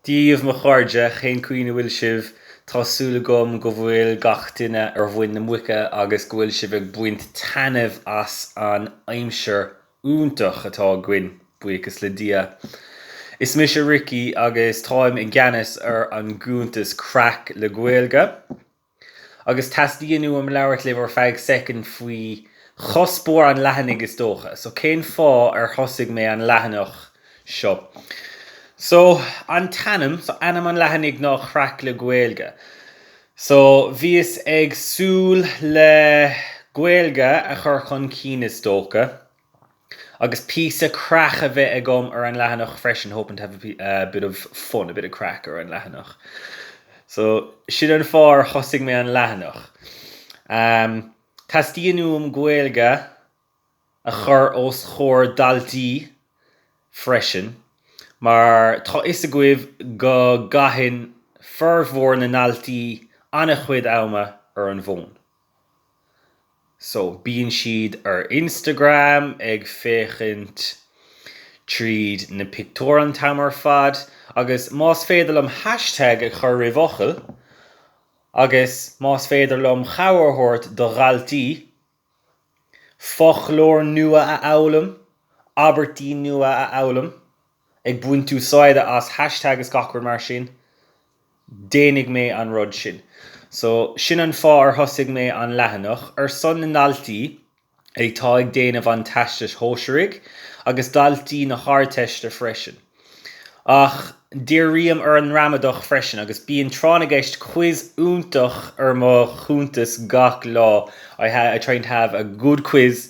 Dia dhaoibh a chairde, cén chaoi a bhfuil sibh? Tá súil agam go bhfuil gach duine ar mhuin na muice agus go bhfuil sibh ag baint taitneamh as an aimsir iontach atá againn, buíochas le Dia. Is mise Ricky agus táim i gceannas ar an gcuntas Craic le Gaeilge. agus teastaíonn uaim labhairt libh ar feadh second faoi chuspóir an leathanaigh is dócha. So cén fáth ar thosaigh mé an leathanach seo? So an t-ainm, so ainm an leathanaigh ná Craic le Gaeilge. So bhíos ag súil le Gaeilge a chur chun cinn is dócha. Agus píosa craic a bheith agam ar an leathanach freisin, hoping to have a bit of fun, a bit of craic ar an leathanach. So, sin an fáth ar thosaigh mé an leathanach. Teastaíonn uaim Gaeilge a chur os comhair daltaí freisin, mar tá a fhios agaibh go gcaitheann formhór na ndaltaí an-chuid ama ar an bhfón. So bíonn siad ar Instagram ag féachaint tríd na pictiúir an t-am ar fad agus más féidir liom hashtag a chur roimh fhocal agus más féidir liom cabhair a thabhairt do dhaltaí foclóir nua a fhoghlaim, abairtí nua a fhoghlaim ag baint úsáide as hashtag is gach rud mar sin, déanfaidh mé an rud sin. So, sin an fáth ar thosaigh mé an leathanach, ar son na ndaltaí atá ag déanamh an Teastais Shóisearaigh agus daltaí na hArdteiste freisin. Ach, dírím ar an ngramadach freisin agus bíonn Tráth na gCeist Quiz iontach ar mo chuntas gach lá, I try to have a good quiz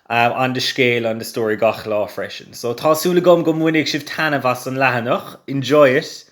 on the scéal, on the story gach lá freisin. So, tá súil agam go mbainfidh sibh taitneamh as an leathanach, enjoy it!